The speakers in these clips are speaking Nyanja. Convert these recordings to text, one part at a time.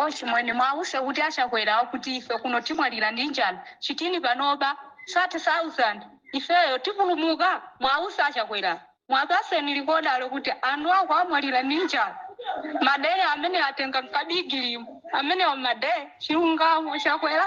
ochimwene muwauze kuti achakwera kuti ife kuno timwalira ndi njala chitini panopa 30000 ifeyo tipulumuka muwauze achakwera muwapatseni lekodalo kuti anthu ako amwalira ndi njala madere amene atenga nkabigilimu amenewo madere chilungamo chakwera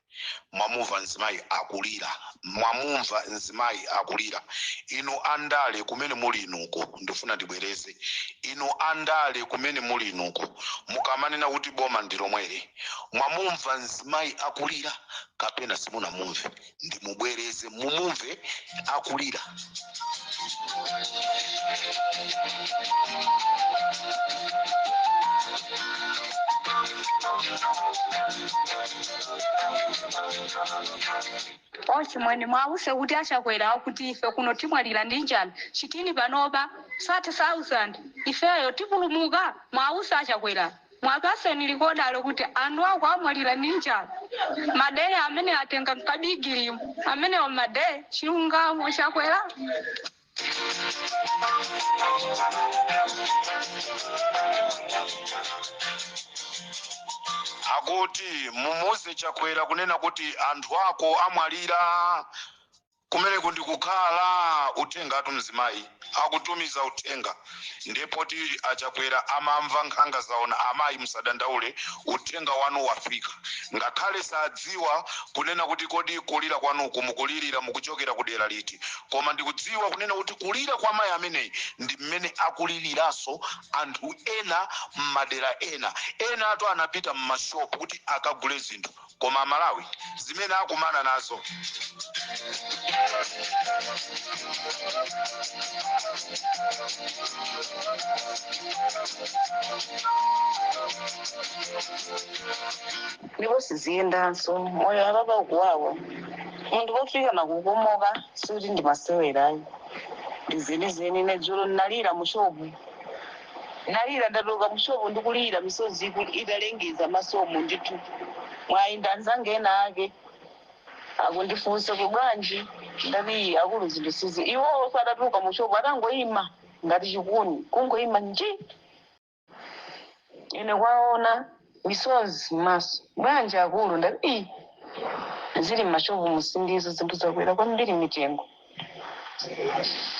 mwamumva mzimayi akulira mwamumva mzimayi akulira inu andale kumene muli inuko ndifuna ndibwereze inu andale kumene muli inuko mukamanena kuti boma ndi lomweli mwamumva mzimayi akulira kapena simunamumve ndimubwereze mumumve akulira ochimwene muwauze kuti achakwera kuti ife kuno timwalira ndi njala chitini panopa 30000 ifeyo tipulumuka muwauze achakwera Muwapatseni lekodalo kuti anthu ako amwalira ndi njala madere amene atenga nkabigilimu amenewo madere chilungamo chakwera. Akuti mumuuze chakwera kunena kuti anthu ako amwalira. Kumeneku ndi kukhala! Uthengatu mzimayi akutumiza uthenga nde poti a Chakwera amamva nkhanga zaona amayi musadandaule uthenga wanu wafika ngakhale sadziwa kunena kuti kodi kulira kwanuku mukulirira mukuchokera ku dera liti koma ndikudziwa kunena kuti kulira kwa mayi ameneyi ndi mmene akuliriraso anthu ena mmadera ena enatu anapita mmashop kuti akagule zinthu koma amalawi zimene akumana nazo ndipo siziyendanso moyo apapa ukuwawa munthu pofika nakukomoka sikuti ndimasewera ayi ndizenizeni ine dzulo ndinalira mushopu Ndalira, ndatuluka mu shop ndi kulira misozi italengeza mmasomu ndithu. Mwayi ndinaona anzanga ena ake akundifunsa kuti bwanji? Ndati akulu zinthu sizi. Iwonso atatuluka mu shop atangoima ngati chikuni kungoima nji! Ine kuwaona misozi mmaso. Bwanji akulu? Ndati iih zili mma shop mu sindizo zinthu zakwera kwambiri mitengo.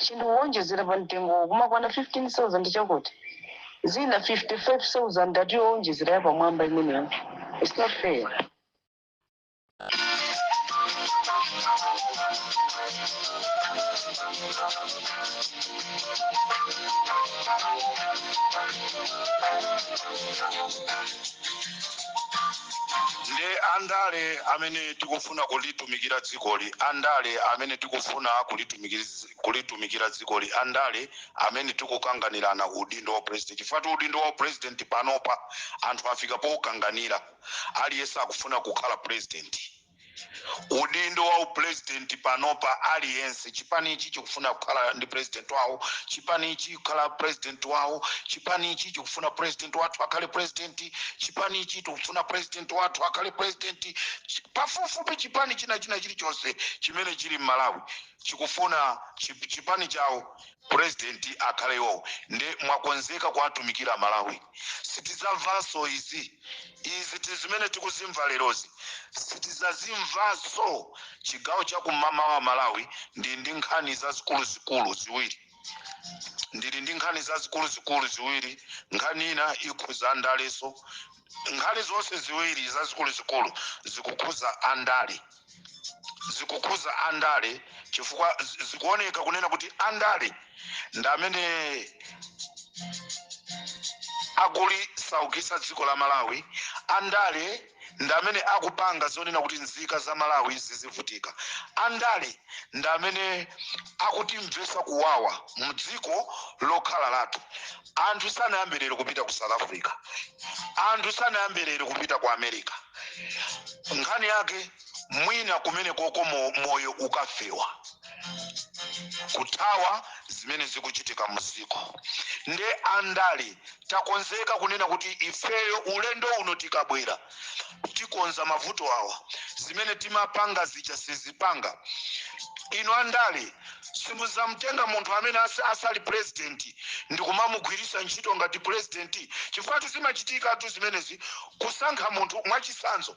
chinthu kuwonjezera pa mtengowo kumakwana 15000 chakuti ndi zina 55000 ati yowonjezera yapamwamba imeneyo its not fair nde andale amene tiku tikufuna kulitumikira dzikoli, andale amene tikufuna kulitumikira dzikoli, andale amene tikukanganirana udindo wa president, chifukwatu udindo wa upresident panopa anthu afika poukanganira, aliyense akufuna kukhala president, udindo wa upresident panopa aliyense. chipanichi chikufuna kukhala ndi president wawo chipanichi kukhala president wawo chipanichi chikufuna president wathu akhale president chipanichi tikufuna president wathu akhale president pafupifupi chipani china china chilichonse chimene chili m'malawi chikufuna chip- chipani chawo president akhale iwowo nde mwakonzeka kuwatumikira amalawi sitizamvanso izi izi ndi zimene tikuzimva lerozi sitizazimvanso chigawo chakummawa amalawi ndili ndi nkhani zazikuluzikulu ziwiri ndili ndi nkhani zazikuluzikulu ziwiri nkhani ina ikhuza andaleso nkhani zonse ziwiri zazikuluzikulu zikukhuza andale zikukhuza andale chifukwa zi- zikuoneka kunena kuti andale ndi amene akulisaukisa dziko la malawi andale ndi amene akupanga zonena kuti nzika za malawi zizivutika andale ndi amene akutimvesa kuwawa mdziko lokhala lathu anthu sanayambe lero kupita ku south africa anthu sanayambe lero kupita ku america nkhani yake mwina kumene koko mo- moyo ukafewa kuthawa zimene zikuchitika muziko nde andale takonzeka kunena kuti ifeyo ulendo uno tikabwera tikonza mavuto awa zimene timapanga zija sizipanga inu andale simuzamtenga munthu amene asa- asali purezidenti ndikumamugwiritsa ntchito ngati purezidenti chifukwa tu zimachitikatu zimenezi kusankha munthu mwachitsanzo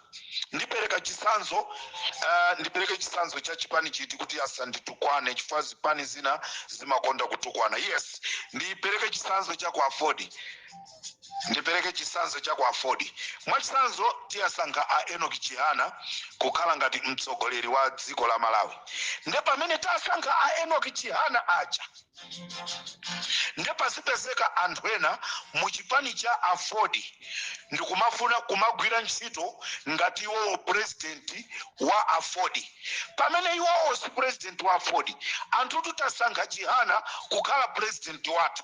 ndipereka chitsanzo uh, ndipereke chitsanzo cha chipani chiti kuti asanditukwane chifukwa zipani zina zimakonda kutukwana yes ndipereke chitsanzo cha ku AFORD Ndipereke chitsanzo cha ku Aford. Mwachitsanzo, tiwasankha a Enock Chihana kukhala ngati mtsogoleri wa dziko la Malawi. Nde pamene tasankha a Enock Chihana aja, nde pasapezeke anthu ena mu chipani cha Aford ndikumafuna kumagwira ntchito ngati iwowo president wa Aford. Pamene iwowo si president wa Aford, anthutu tasankha Chihana kukhala president wathu.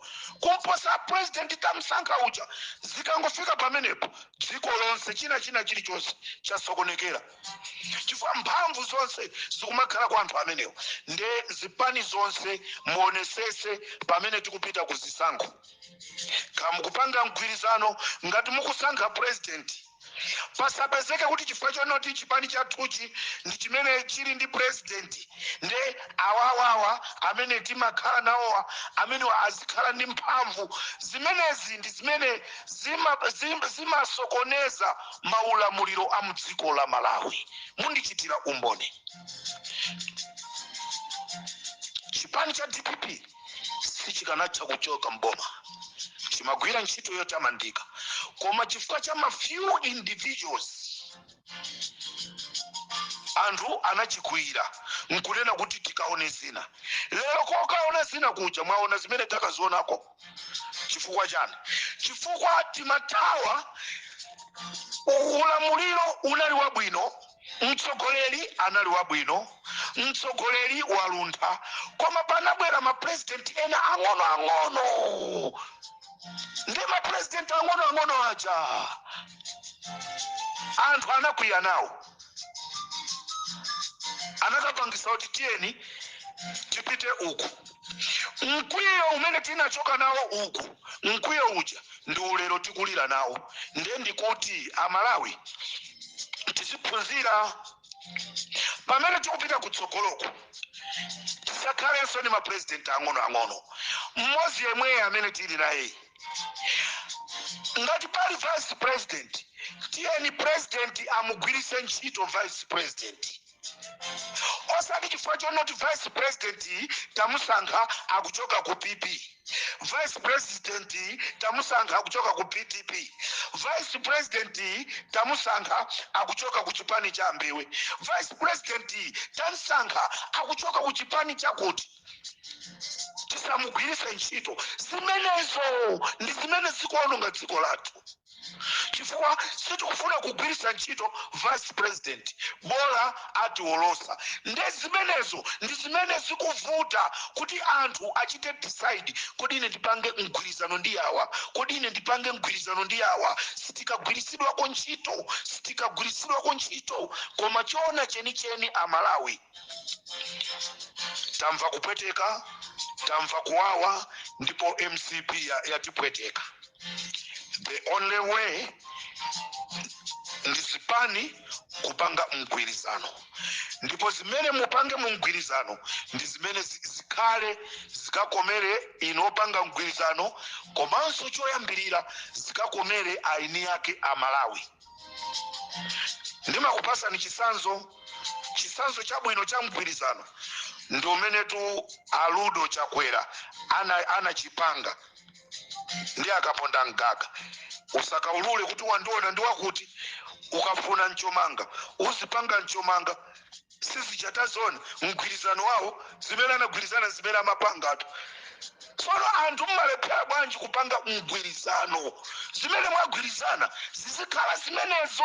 kuposa president tamsankha uja zikangofika pamenepo dziko lonse china china chilichonse chasokonekera chifukwa mphamvu zonse zikumakhala kwa anthu amenewo nde zipani zonse muonesese pamene tikupita ku zisankho kaya mukupanga mgwirizano ngati mukusankha president pasapezeke kuti chifukwa chonoti chipani chathuchi ndi chimene chili ndi president nde awawawa amene timakhala nawowa amenewa azikhala ndi mphamvu zimenezi ndi zimene zimasokoneza maulamuliro a mdziko la malawi mundichitira umboni chipani cha dpp sichikanatha kuchoka m'boma. Chimagwira ntchito yotamandika, koma chifukwa cha ma few individuals anthu anachikwiyira nkunena kuti tikaone zina. Lero kokaona zina kuja mwaona zimene takazionako. Chifukwa chani? Chifukwa timathawa ulamuliro unali wabwino Mtsogoleri anali wabwino, mtsogoleri waluntha, koma panabwera ma president ena ang'ono ang'ono, nde ma president ang'ono ang'ono aja anthu anakwiya nawo, anakapangisa kuti tiyeni tipite uku. Mkwiyo umene tinachoka nawo uku, mkwiyo uja ndi ulero tikulira nawo nde ndikuti amalawi tiziphunzira pamene tikupita kutsogoloko tisakhalenso ndi mapurezidenti ang'onoang'ono mmodzi yemweyo amene tili naye ngati pali vice president tiyeni president amugwiritse ntchito vice president osati chifukwa chonoti vice president tamusankha akuchoka ku pp vice president tamusankha akuchoka ku pdp vice president tamusankha akuchoka ku chipani cha a Mbewe vice president tamusankha akuchoka ku chipani chakuti tisamugwiritse ntchito zimenezo ndi zimene zikuononga dziko lathu chifukwa sitikufuna kugwiritsa ntchito ngati vice president bola atiolosa nde zimenezo ndi zimene zikuvuta kuti anthu achite decide kodi ine ndipange mgwirizano ndi awa kodi ine ndipange mgwirizano ndi awa sitikagwiritsidwako ntchito sitikagwiritsidwako ntchito koma choona chenicheni amalawi tamva kupweteka tamva kuwawa ndipo mcp ya- yatipweteka the only way ndi zipani kupanga mgwirizano ndipo zimene mupange mu mgwirizano ndi zimene zi- zikhale zikakomere inu opanga mgwirizano komanso choyambirira zikakomere eni ake amalawi ndimakupasani chisanzo chisanzo chabwino cha mgwirizano ndi umenetu a rudo chakwera ana- anachipanga ndi akaponda mgaga usakaulule kuti wandiona ndi wakuti ukafuna mchomanga uzipanga mchomanga sizija taziona mgwirizano wawo zimene anagwirizana zimene amapangatu tsono anthu mmalephera bwanji kupanga mgwirizano zimene mwagwirizana zizikhala zimenezo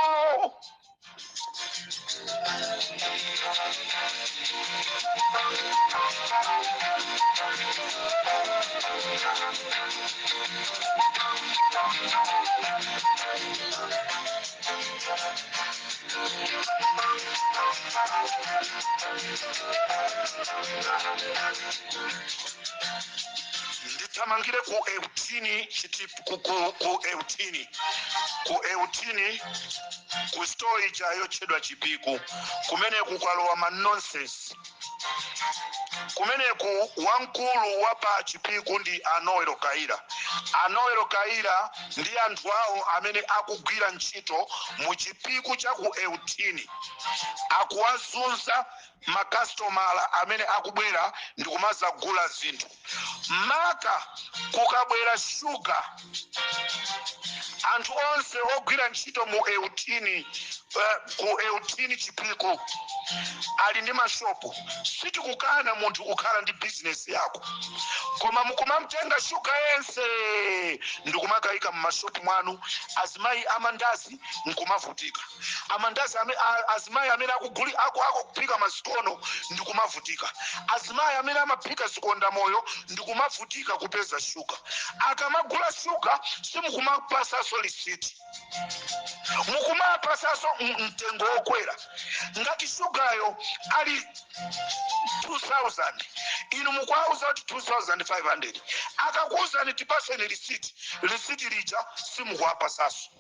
ndithamangire ku eyitini ku, ku, ku eyitini ku eyitini ku store ija yotchedwa chipiku kumene kwalowa ma nonsense kumeneku wamkulu wa pa chipiku ndi a noel kaira a noel kaira ndi anthu awo amene akugwira ntchito mu chipiku cha ku eyitini akuwazunza makasitomala amene akubwera ndikumazagula zinthu maka kukabwera shuga anthu onse ogwira ntchito mu eyitini eh, ku eyitini chipiku ali ndi mashopu sitikukana munthu kukhala ndi bizinesi yako koma mukumamtenga shuga yense ndikumakayika mmashopu mwanu azimayi amandazi nkumavutika amandasi ame, a, azimayi amene akuguli aku, akuphika masikono ndi kumavutika azimayi amene amaphika zikondamoyo ndi kumavutika kupeza shuga akamagula shuga simukumapasaso lisiti mukumapasaso m- mtengo wokwera ngati shugayo ali 2000 inu mukuauza kuti 2500 akakuuzani tipaseni lisiti lisiti lija simukuapasaso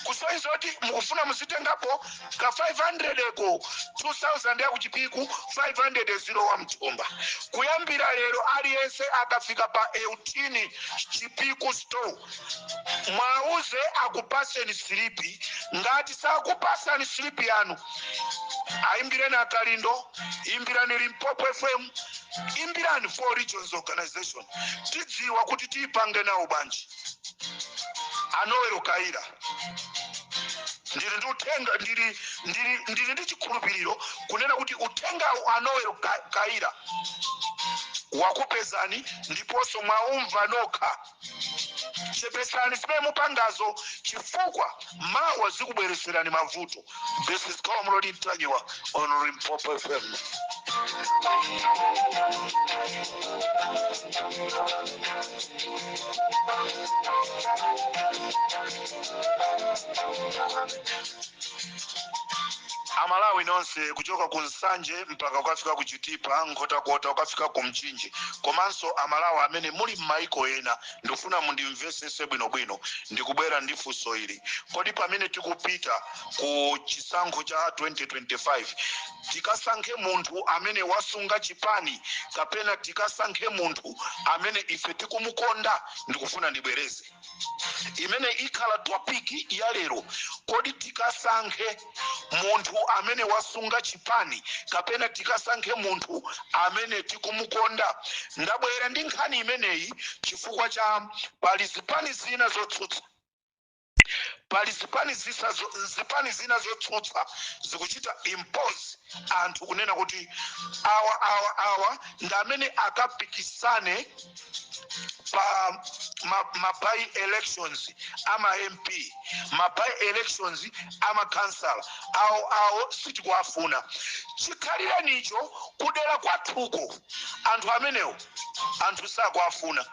kusonyeza kuti mukufuna muzitengapo ka 500 eko 2000 ya kuchipiku 500 yo ya mthumba kuyambira lero aliyense akafika pa Euthini chipiku store mwauze akupaseni silipi ngati sakupasani silipi yanu aimbireni a Kalindo imbirani limpopo fm imbirani four regions organization tidziwa kuti tipange nawo banji a Noel Kaira ndili ndi uthenga ndili ndili ndili ndi chikhulupiriro kunena kuti uthengawu a Noel Ka- Kaira wakupezani ndiponso mwaumva nokha chepetsani zimene mupangazo chifukwa mawa zikubweretserani mavuto This is Comrade Ntanyiwa on Limpopo FM. amalawi nonse kuchoka ku nsanje mpaka ukafika ku chitipa nkhotakota ukafika ku mchinji komanso amalawi amene muli m'maiko ena Ndikufuna mundimvesese bwino bwino. Ndikubwera ndi funso ili. Kodi pamene tikupita ku chisankho cha 2025 tikasankhe munthu amene wasunga chipani kapena tikasankhe munthu amene ife tikumukonda? Ndikufuna ndibwereze. Imeneyi ikhala topic ya lero. Kodi tikasankhe. munthu amene wasunga chipani kapena tikasankhe munthu amene tikumukonda ndabwera ndi nkhani imeneyi chifukwa cha pali zipani zina zotsutsa pali zipani zisa zo- zipani zina zotsutsa zikuchita impose anthu kunena kuti awa awa awa ndi amene akapikisane pa ma, ma by elections ama mp ma by elections ama councillor awo awo sitikuwafuna chikhalirenicho kudera kwawoko anthu amenewo anthu sakuwafuna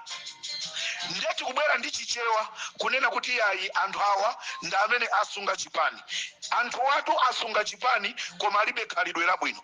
ndiye tikubwera ndi chichewa kunena kuti ayi anthu awa ndi amene asunga chipani anthu awatu asunga chipani koma alibe khalidwe labwino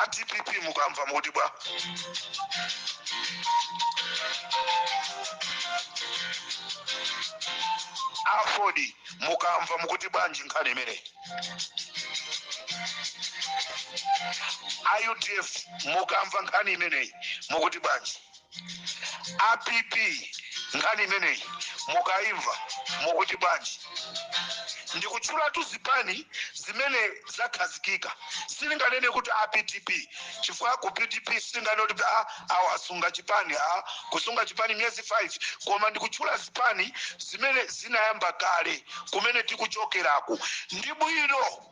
a dpp mukamva mukuti bwa a aford mukamva mukuti bwanji nkhani imeneyi a udf mukamva nkhani imeneyi mukuti bwanji a pp nkhani imeneyi mukaimva mukuti bwanji ndikutchulatu zipani zimene zakhazikika silinganene kuti a pdp chifukwa ku pdp silinganene kuti awa asunga chipani kusunga chipani miyezi 5 koma ndikutchula zipani zimene zinayamba kale kumene tikuchokeraku ndi bwino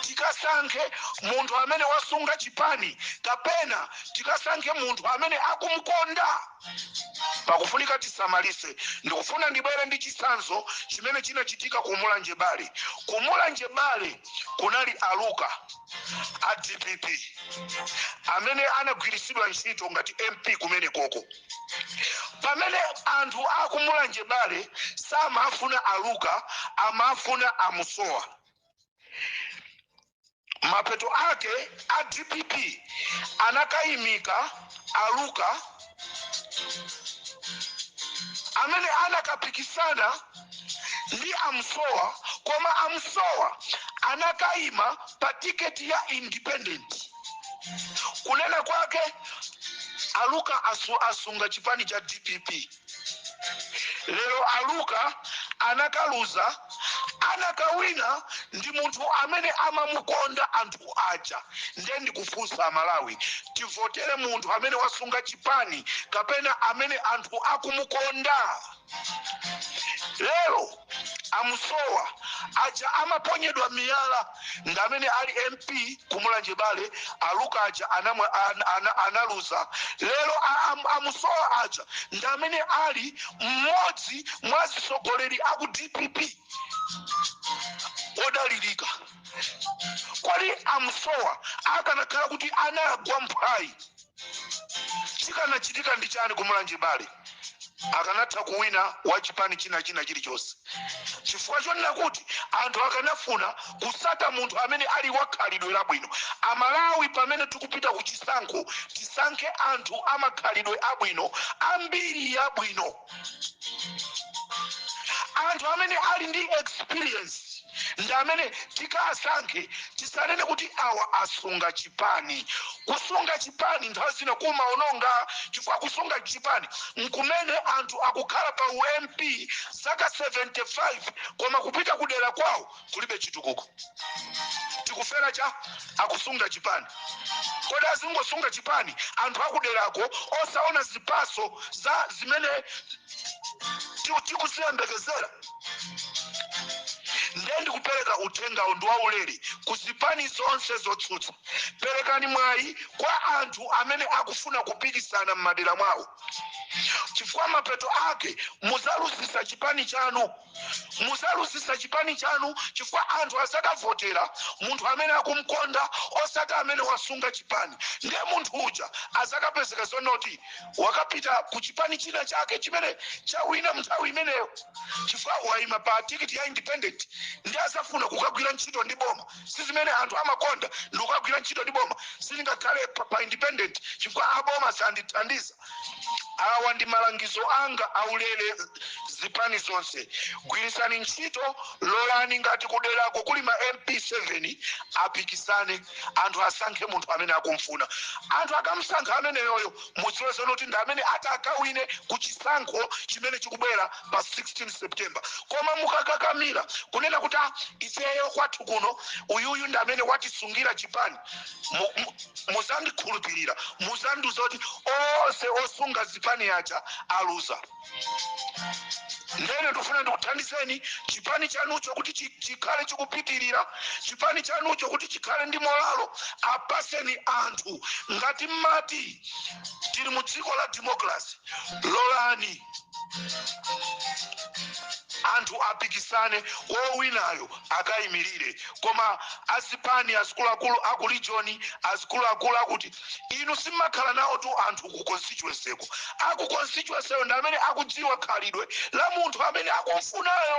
tikasankhe munthu amene wasunga chipani kapena tikasankhe munthu amene akumkonda pakufunika tisamalise ndikufuna ndibwere ndi chitsanzo chimene chinachitika ku mulanje bale ku mulanje bale kunali a luka a dpp amene anagwiritsidwa ntchito ngati mp kumene koko Pamene anthu aku Mulanje bale samafuna a Luka amafuna a Musowa. Mapeto ake a dpp anakaimika a Luka amene anakapikisana ndi a Musowa koma a Musowa anakaima pa tiketi ya independent. kunena kwake a luka asu, asunga chipani cha dpp lero a luka anakaluza anakawina ndi munthu amene amamukonda anthu aja ndiye ndikufunsa amalawi tivotere munthu amene wasunga chipani kapena amene anthu akumukonda lero a musowa aja amaponyedwa miyala ndi amene ali mp ku mulanje bale a luka aja anamwa- an- ana- analuza lero a- am- a musowa aja ndi amene ali mmodzi mwa atsogoleri aku dpp odalirika kodi a musowa akanakhala kuti anagwa mphwayi chikanachitika ndi chani ku mulanje bale akanatha kuwina wa chipani china china chilichonse chifukwa chonena kuti anthu akanafuna kutsata munthu amene ali wakhalidwe labwino amalawi pamene tikupita ku chisankho tisankhe anthu amakhalidwe abwino ambiri yabwino anthu amene ali ndi experience ndi amene tikasankhe tisanene kuti awa asunga chipani kusunga chipani nthawi zina kumaononga chifukwa kusunga chipani nkumene anthu akukhala pa ump zaka 75 koma kupita kudera kwawo kulibe chitukuko tikufera cha akusunga chipani kodi azingosunga chipani anthu akuderako osaona zipaso za zimene ti- tikuziyembekezera ndiye ndikupereka uthengawo ndi waulere ku zipani zonse zotsutsa perekani mwayi kwa anthu amene akufuna kupikisana m'madera mwawo chifukwa mapeto ake mudzaluzisa chipani chanu muzaluzisa chipani chanu chifukwa anthu azakavotera munthu amene akumkonda osati amene wasunga chipani ndiye munthu uja azakapezeka zonoti wakapita ku chipani china chake chimene chawina mnthawi imeneyo chifukwa waima pa tikiti ya independent ndiye azafuna kukagwira ntchito ndi boma si zimene anthu amakonda ndi kukagwira ntchito ndi boma sindingakhale pa, pa independent chifukwa aboma sandithandiza awa ndi malangizo anga aulere zipani zonse gwirisani ntchito lolani ngati kuderako kuli ma mp 7 apikisane anthu asankhe munthu amene akumfuna anthu akamsankha ameneyoyo mudziwe zonoti ndi amene atakawine ku chisankho chimene chikubwera pa 16 september koma mukakakamira kunena kuti "Ah, ifeyo kwathu kuno uyuyu ndi amene watisungira chipani Mu- mu- muzandikhulupirira muzandiuza kuti onse osunga zipani aja aluza ndene ndikufuna ndikuthandizeni chipani chanucho kuti chi- chikhale chikupitirira chipani chanucho kuti chikhale ndi molalo apaseni anthu ngati mmati tili mu dziko la demokrasi lolani anthu apikisane wowinayo akayimilire koma azipani azikuluakulu aku region azikuluakulu akuti inu simmakhala nawotu anthu ku constituency ko aku constituency ko ndi amene akudziwa khalidwe la munthu amene akumfunayo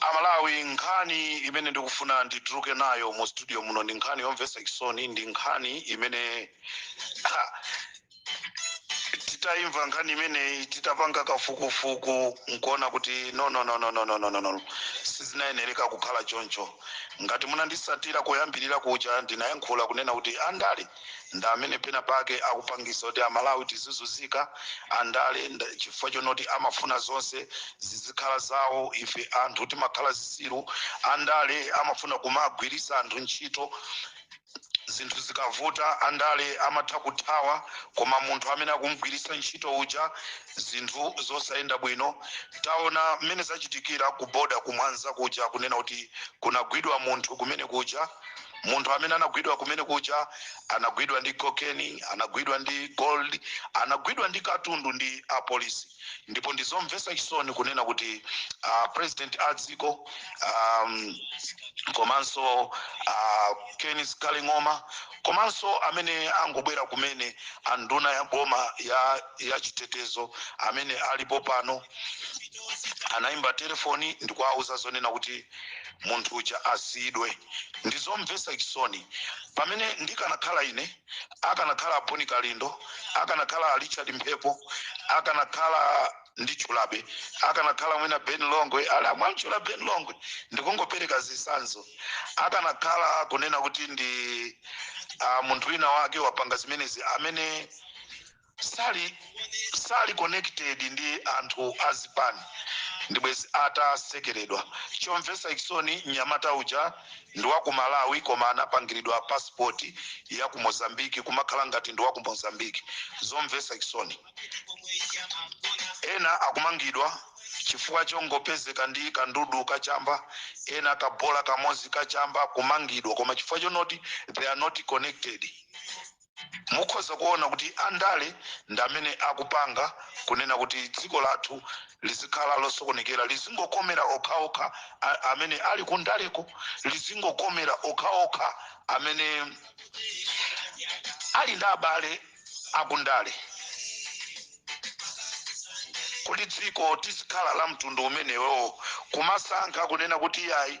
amalawi nkhani imene ndikufuna ndituluke nayo mu studio muno ndi nkhani yomvetsa chisoni ndi nkhani imene titaimva nkhani imeneyi titapanga kafukufuku nkuona kuti no no no no no no no no no sizinayenereka kukhala choncho Ngati munandisatira kuyambirira kuja ndinayankhula kunena kuti andale ndi amene pena pake akupangisa kuti amalawi tizizuzika andale chifukwa chonoti amafuna zonse zizikhala zawo ife anthu timakhala zisiru andale amafuna kumagwirisa anthu ntchito zinthu zikavuta andale amatha kuthawa koma munthu amene akumgwirisa ntchito uja zinthu zosayenda bwino taona mmene zachitikira ku boda kumwanza kuja kunena kuti kunagwidwa munthu kumene kuja munthu amene anagwidwa kumene kuja anagwidwa ndi cocaine anagwidwa ndi gold anagwidwa ndi katundu ndi apolisi ndipo ndi zomvesa chisoni kunena kuti uh, president a dziko um, komanso uh, kenneth kaling'oma komanso amene angobwera kumene anduna ya boma ya, ya chitetezo amene alipo pano anayimba telefoni ndikuwauza zonena kuti munthu uja asiyidwe ndizomvesa chisoni pamene ndikanakhala ine akanakhala a boni kalindo akanakhala a richard mphepo akanakhala ndi chulabe akanakhala mwina ben longwe ala mwamchula ben longwe ndikungopereka zisanzo akanakhala kunena kuti ndi uh, munthu wina wake wapanga zimenezi amene Sali sali connected ndi anthu azipani ndibwezi atasekeredwa. Chomvesa chisoni mnyamata uja ndi waku Malawi koma anapangiridwa passport ya ku Mozambique kumakhala ngati ndi waku Mozambique. Zomvesa chisoni. Ena akumangidwa chifukwa chongopezeka ndi kandudu ka chamba, ena kabola kamozi ka chamba kumangidwa koma chifukwa chonoti they are not connected. Mukhoza kuona kuti andale ndi amene akupanga kunena kuti dziko lathu lizikhala losokonekera, lizingokomera okhaokha a, amene ali kundaleko, lizingokomera okhaokha amene ali ndi abale akundale. Kodi dziko lizikhala la mtundu umenewo, kumasankha kunena kuti iyayi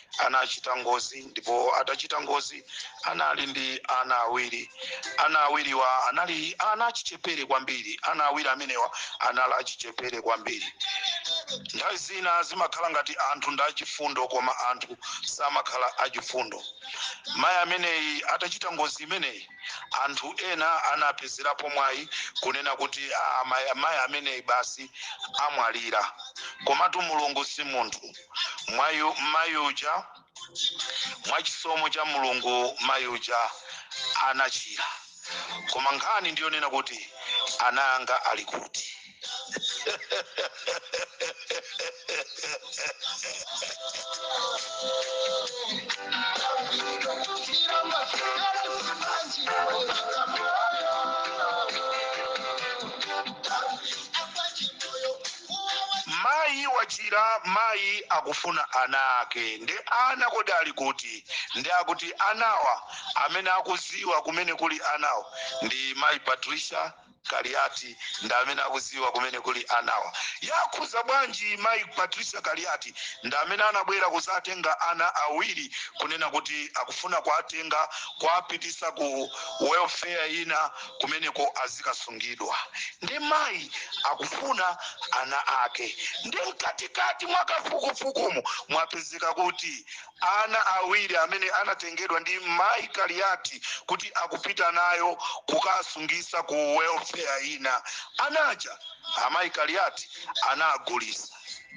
anachita ngozi ndipo atachita ngozi anali ndi ana awiri ana awiriwa anali ana achichepere kwambiri ana awiri amenewa anali achichepere kwambiri nthawi zina zimakhala ngati anthu ndi achifundo koma anthu samakhala achifundo mayi ameneyi atachita ngozi imeneyi anthu ena anapezerapo mwayi kunena kuti "Ah, mayi ameneyi basi amwalira komatu mulungu si munthu mayi uja mwachisomo cha mulungu mayi uja anachira koma nkhani ndiyonena kuti ana anga ali kuti Mayi wachira mayi akufuna ana ake nde ana kodi ali kuti nde akuti anawa amene akuziwa kumene kuli anawa ndi mayi Patricia kaliati ndi amene akuziwa kumene kuli anawa yakhuza bwanji mayi Patricia kaliati ndi amene anabwera kuzatenga ana awiri kunena kuti akufuna kuatenga kuapitisa ku welfare ina kumeneko azikasungidwa ndi mayi akufuna ana ake ndi mkatikati mwa kafukufukumu mwapezeka kuti ana awiri amene anatengedwa ndi mayi kaliyati kuti akupita nawo kukasungisa ku welfare ina anaja amayi kaliyati anawagulisa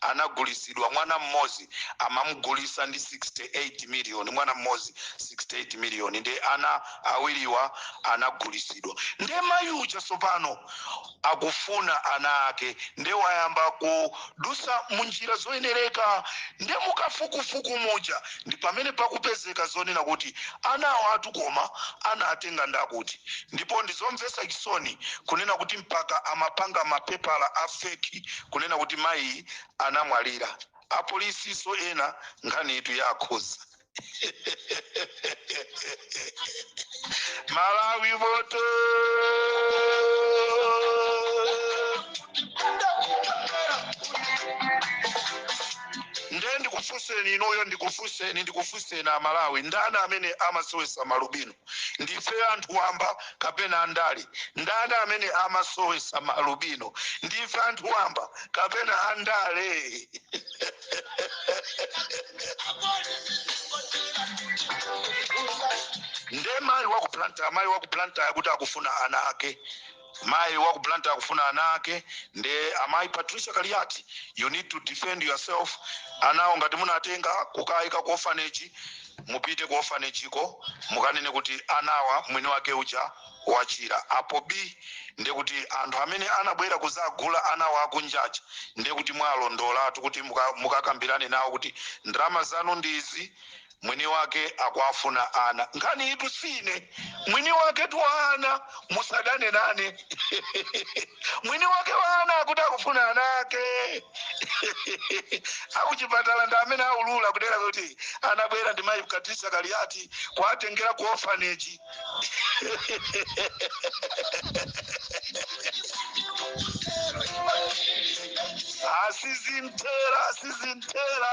anagulisidwa mwana mmodzi amamugulisa ndi 68 million mwana mmodzi 68 million nde ana awiriwa anagulisidwa nde mayi uja sopano akufuna ana ake nde wayamba kudusa munjira zoyenereka nde mukafukufuku muja ndi pamene pakupezeka zonena kuti anawatu koma anawatenga ndi akuti ndipo ndizomvesa chisoni kunena kuti mpaka amapanga mapepala a fake kunena kuti mayi anamwalira apolisinso ena nkhaniyitu yawakhuza malawi voto nde ndikufunseni inuyo ndikufunseni ndikufunseni amalawi ndani amene amasowesa ma alubino Ndife anthu wamba kapena andale? Ndani amene amasowesa ma alubino? Ndife anthu wamba kapena andale? Nde mayi wa ku Blantyre, mayi wa ku Blantyre akuti akufuna ana ake. Mayi wa ku Blantyre akufuna ana ake nde amayi Patricia Kaliati you need to defend yourself anawo ngati munatenga kukaika ku orphanage mupite ku orphanage ko mukanene kuti anawa mwini wake uja wachira apo bii nde kuti anthu amene anabwera kuzagula anawa akunjaja nde kuti mwalondolatu kuti muka- mukakambirane nawo kuti ndalama zanu ndi izi mwini wake akuwafuna ana nkhaniyitu si ine mwini waketu wa ana musadane nane mwini wake wa ana akuti akufuna ana ake akuchipatala ndi amene aulula kudera kuti anabwera ndi mayi patricia kaliati kuwatengera ku orphanage asisitera asisitera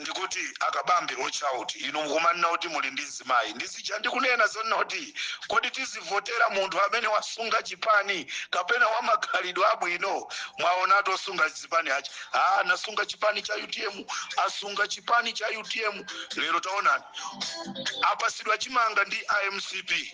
ndikuti akabambe watch out inu mumanena kuti muli ndi mzimayi ndi zija ndikunena zonena kuti kodi tizivotera munthu amene wasunga chipani kapena wamakhalidwe abwino mwaonatu osunga zipani aja ah, anasunga chipani cha utm asunga chipani cha utm lero taonani apasidwa chimanga ndi a mcp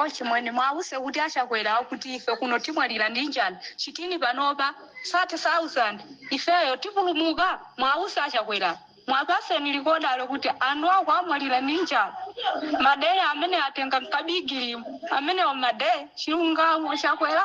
Ochimwene muwawuze kuti a Chakwerawo kuti ife kuno timwalira ndi njala chitini panopa 30000 ifeyo tipulumuka muwawuze a Chakwerawo muwapaseni likodalo kuti anthu akumwalira ndi njala madera amene atenga mkabigilimu amenewo madera chilungamo chakwera.